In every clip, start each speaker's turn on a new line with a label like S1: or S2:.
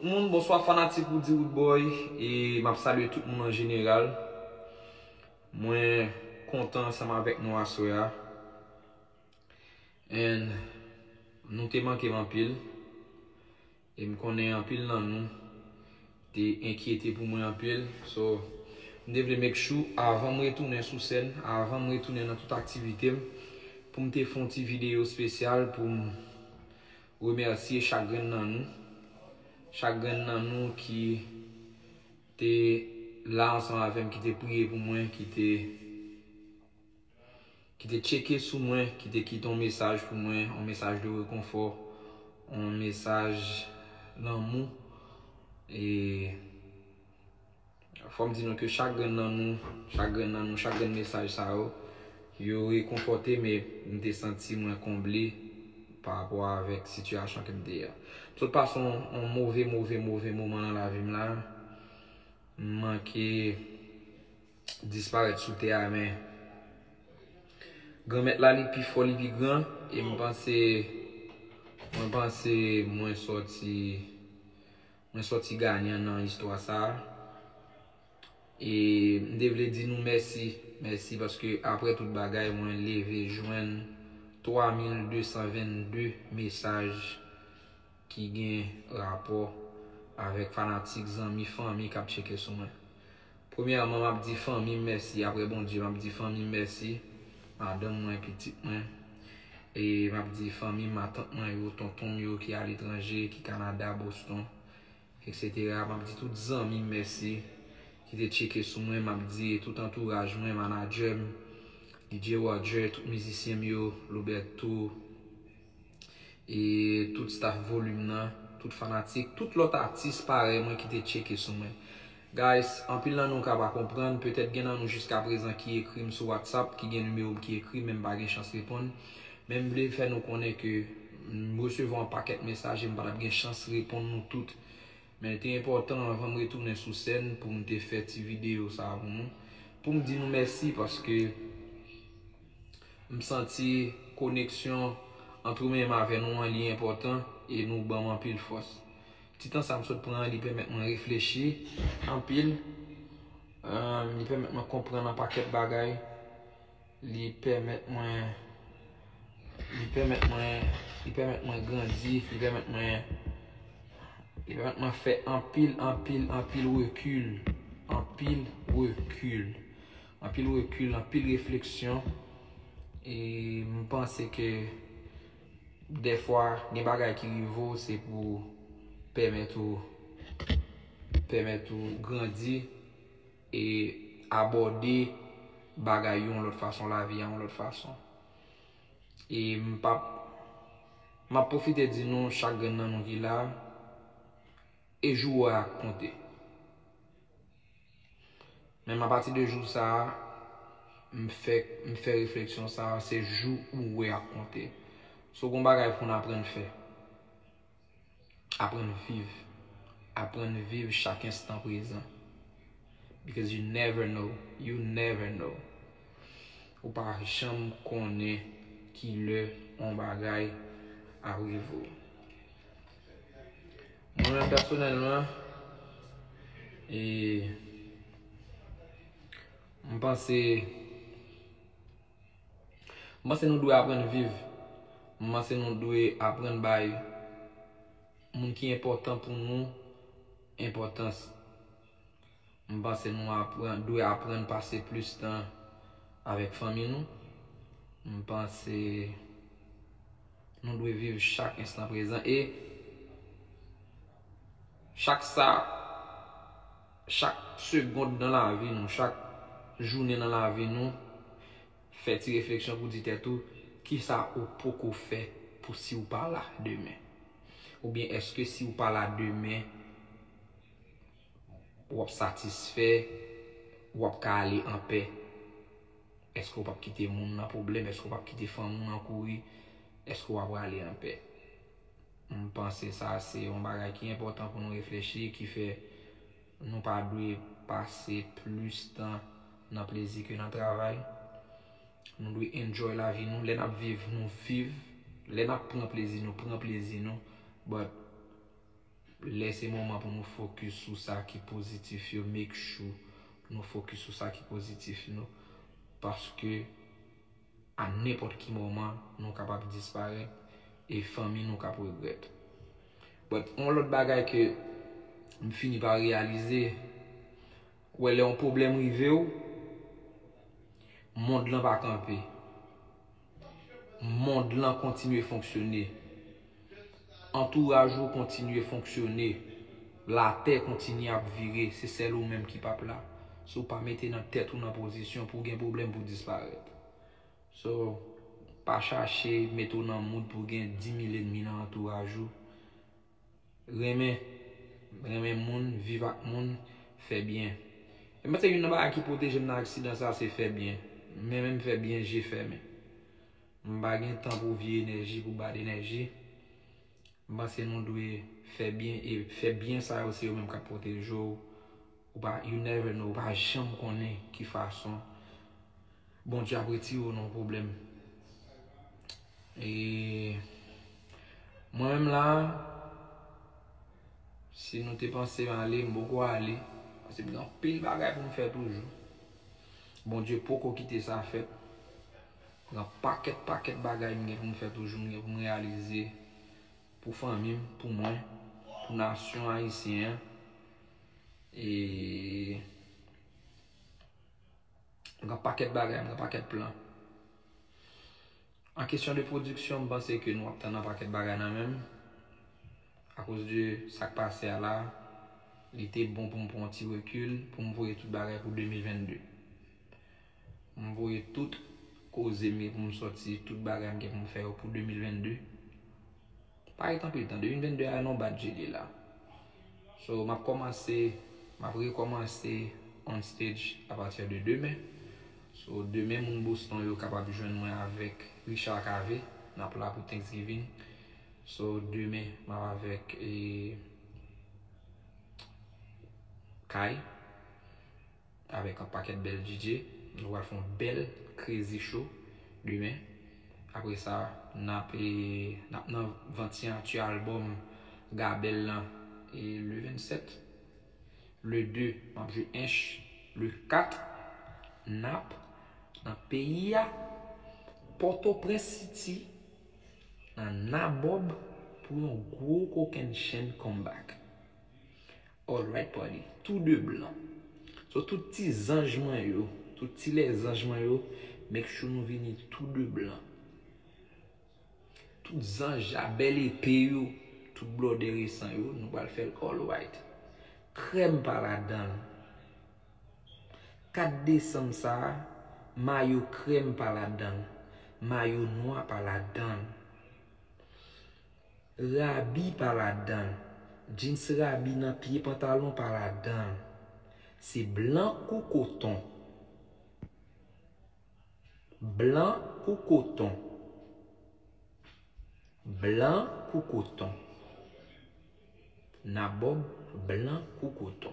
S1: Tout moun bonswa fanatik Roody Roodboy e map salye tout moun an jeneral mwen kontan ansanm avèk nou aswè a and nou te mankem anpil e m konnen anpil nan nou te enkyete pou mwen anpil so m te vle make sure avanm retounen sou sèn avanm retounen nan tout aktivitem poum te fon ti video spesyal poum Remèsye chak grenn nan nou, chak grenn nan nou ki te la ansanm avè m, ki te priye pou mwen, ki te ki te tcheke sou mwen, ki te kite yon mesaj pou mwen, yon mesaj de rekonfò, yon mesaj lanmou e. Fò m di nou ke chak grenn nan nou, chak grenn nan nou, chak grenn mesaj sa yo, yo rekonfòte m e m te santi mwen konble pa rapò avèk sitiyasyon ke m te ye a. M sot pase yon move, move, move moman nan lavi m la. M manke disparèt sou tè a men Granmèt la li pi fò, li pi gran e m panse, mwen panse mwen sòti. Mwen sòti ganyan nan istwa sa a. E m te vle di nou mèsi, mèsi paske aprè tout bagay mwen leve jwenn 3222 mesaj ki gen rapò avèk fanatik, zanmi, fanmi k ap tcheke sou mwen. Premyèman map di fanmim mèsi aprè Bondye map di fanmim mèsi madanm mwen pitit mwen e map di fanmim matant mwen yo tontonm yo ki aletranje ki Canada Boston etc map di tout zanmim mèsi ki te tcheke sou mwen map di tout antouraj mwen manadjèm DJ Roger tout mizisyenm yo Loberto. E tout staff volume nan, tout fanatik, tout lòt atis parèy mwen ki te tcheke sou mwen. Guys, anpil nan nou ka pa konprann, petèt gen nan nou jiskaprezan ki ekri m sou WhatsApp, ki gen nimewo m ki ekri men m pa gen chans reponn. Men m vle fè nou konnen ke m resevwa yon pakèt mesaj e m pa t ap gen chans reponn nou tout. Men l te enpòtan anvan m retounen sou sèn pou m te fè ti videyo sa pou nou, pou m di nou mèsi paske m santi koneksyon ant ou menm avè nou an li enpòtan e nou ban m anpil fòs. Ti tan sa m sot pran an li pèmèt mwen reflechi anpil, li pèmèt mwen konprann anpakèt bagay. Li pèmèt mwen Li pèmèt mwen Li pèmèt mwen grandi Li pèmèt mwen Li pèmèt mwen fè anpil anpil anpil rekil Anpil rekil Anpil rekil anpil refleksyon E m panse ke Dèfwa gen bagay ki rive ou se pou Pèmèt ou Pèmèt ou grandi E abòde bagay yo yon lòt fason, lavi a yon lòt fason. E m pa p. M ap pwofite di nou chak grenn nan nou ki la a, e jou ou a a konte. Men m apati de jou sa a, m fè m fè refleksyon sa a, se jou ou a konte. So gen yon bagay pou n aprann fè. Aprann viv. Aprann viv chak enstan prezan. Because you never know. You never know. Ou pa janm konnen ki lè yon bagay ap rive ou. Mwen menm pèsonèlman, e, m panse. M panse nou dwe aprann viv. M panse nou dwe aprann bay moun ki enpòtan pou nou enpòtans. M panse nou dwe aprann pase plis tan avèk fanmi nou. M panse nou dwe viv chak enstan prezan e chak sa. Chak segond nan lavi nou, chak jounen nan lavi nou, fè ti refleksyon pou di tèt ou, kisa ou poko fè pou si ou pa la demen? Oubyen èske si ou pa la demen, w ap satisfè, w ap ka ale anpè? Èske ou p ap kite moun nan pwoblèm? Èske ou p ap kite fanmi w nan kouri? Èske w aprale anpè? M panse sa se yon bagay ki enpòtan pou nou reflechi ki fè nou pa dwe pase plis tan nan plezi ke nan travay. Nou dwe enjoy lavi nou. Lè n ap viv, nou viv. Lè n ap pran plezi nou, pran plezi nou. But, lè se moman pou nou fokis sou sa ki pozitif yo, make sure nou fokis sou sa ki pozitif nou. Paske. A nenpòt ki moman nou kapab disparèt e fanmi nou kap regrèt. But yon lòt bagay ke m fini pa reyalize, ou wè lè yon pwoblèm rive w, mond lan pa kanpe. Mond lan kontinye fonksyone. Antouraj ou kontinye fonksyone, latè kontinye ap vire, se sèl ou menm ki pap la. Si w pa mete nan tèt ou nan pozisyon pou w gen pwoblèm pou w disparèt. So, pa chache mete w nan mood pou w gen 10.000 enmi nan antouraj ou. Renmen, renmen moun, viv ak moun, fè byen. E m panse youn nan bagay ki pwoteje m nan aksidan sa se fè byen. M renmen m fè byen je fèmen. M pa gen tan pou vye enèji, pou bad enèji. M panse nou dwe fè byen e fè byen sa yo se yo menm k ap pwoteje w. Ou pa, you never know, ou pa janm konnen ki fason Bondye ap retire w nan yon pwoblèm. E mwen menm la, si nou te panse m ale, m poko ale. Pase m gen anpil bagay pou m fè toujou. Bondye poko kite sa fèt. Pran pakèt pakèt bagay m gen pou m fè toujou, m gen pou m reyalize pou fanmi m, pou mwen, pou nasyon ayisyen an. E m gen pakèt bagay, m gen pakèt plan. An kesyon de pwodiksyon, m panse ke nou ap tann an pakèt bagay nan men m. A koz de sa k pase a la, li te bon pou m pran yon ti rekil, pou m voye tout bagay pou 2022. M voye tout koze m gen pou m sòti, tout bagay m gen pou m fè yo pou 2022. Pa ret anpil tan, 2022 a nan bat je li la. So, m ap kòmanse, m ap rekòmanse on stage a pati de demen. So, demen moun Boston yo kapab jwenn mwen avèk Richard Cavé. N ap la pou Thanksgiving. So, demen m ap avèk e Kay. Avèk yon pakèt bèl DJ. Nou pral fè yon bèl Crazy Show demen. Apre sa, n ap nan vant siyati albòm Gabel lan e le 27. Le 2, m ap jwe Ench. Le 4, n ap nan peyi a, Pòtoprens City, nan Nabob pou yon gwo kokennchenn comeback. Alright party tou de blan. So tout ti zanj mwen yo, tout ti lèzanj mwen yo make sure nou vini tou de blan. Tout zanj a bèl epe yo, tout blòdè resan yo nou pral fèl all white. Krèm pa ladanl. 4 desanm sa a mayo krèm pa ladanl, mayo nwa pa ladanl. Rabi pa ladanl. Jeans rabi nan pye pantalon pa ladanl. Se blan kou koton. Blan kou koton. Blan kou koton. Nabob blan kou koton.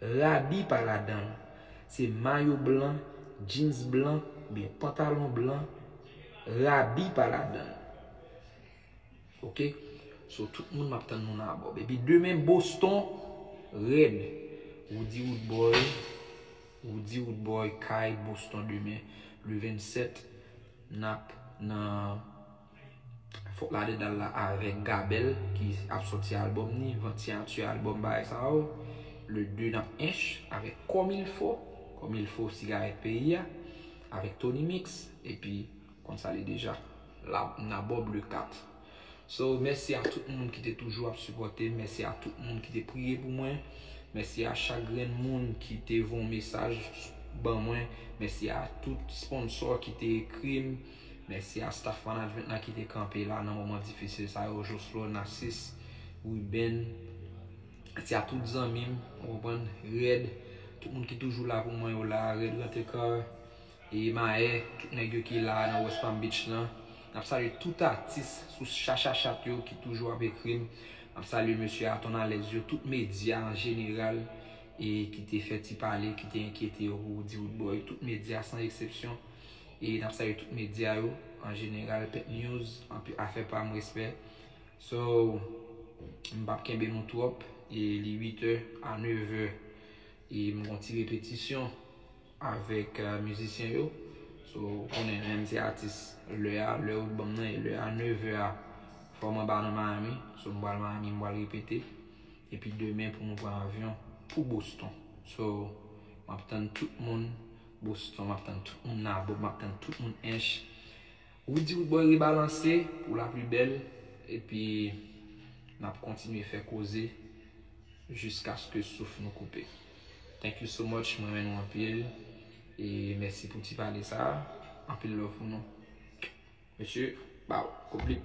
S1: Rabi pa ladan l. Se mayo blan, jeans blan oubyen pantalon blan, rabi pa ladan l. Ok. So tout moun map tann nou nan abòb. Epi demen Boston rèd. Roody Roodboy, Roody Roodboy kay Boston demen le 27 nap nan. Fok ladedan la avek Gabel ki ap soti album ni van ti anti album bagay sa yo le 2 nan ench avek komilfo komilfo sigaret peyi a avek Tony mix epi konn sa li deja la na bob le 4 so mèsi a tout moun ki te toujou ap sipote mèsi a tout moun ki te priye pou mwen mèsi a chak grenn moun ki te von mesaj ban mwen mèsi a tout sponsor ki te ekrim. Mèsi a staff management la ki te kanpe la nan moman difisil sa yo, Jocelor, Narcisse, Ruben, mèsi a tout zanmi m, ou konprann, Red, tout moun ki toujou la pou mwen yo la, Red Rantecar, e Maè, tout nèg yo ki la nan West Palm Beach lan. N ap salye tout atis sou Chachachat yo ki toujou ap ekri m. N ap salye mesye a Tonnalèz yo, tout medya an jeneral e ki te fè ti pale, ki te enkyete yo pou di Woodboy, tout medya san eksepsyon. E nap salye tout media yo an jeneral pep news anpi afè pam respè so m pap kenbe nou twòp e li 8 è a 9 è e m gon ti repetisyon avèk mizisyen yo so ou konnen lèm se atis lè a lè ou t banm nan e lè a 9 è a fòm anba nan Miami so m pral Miami m pral repete epi demen pou nou pran avyon pou Boston so map tann tout moun Boston map tann tout moun la bob map tann tout moun ench Roody roodboy rebalanse pou la plus belle epi nap kontinye fè koze jiskaske souf nou koupe thank you so much m renmen nou anpil e mèsi pou ti pale sa anpil love pou nou mesye baww kout blip.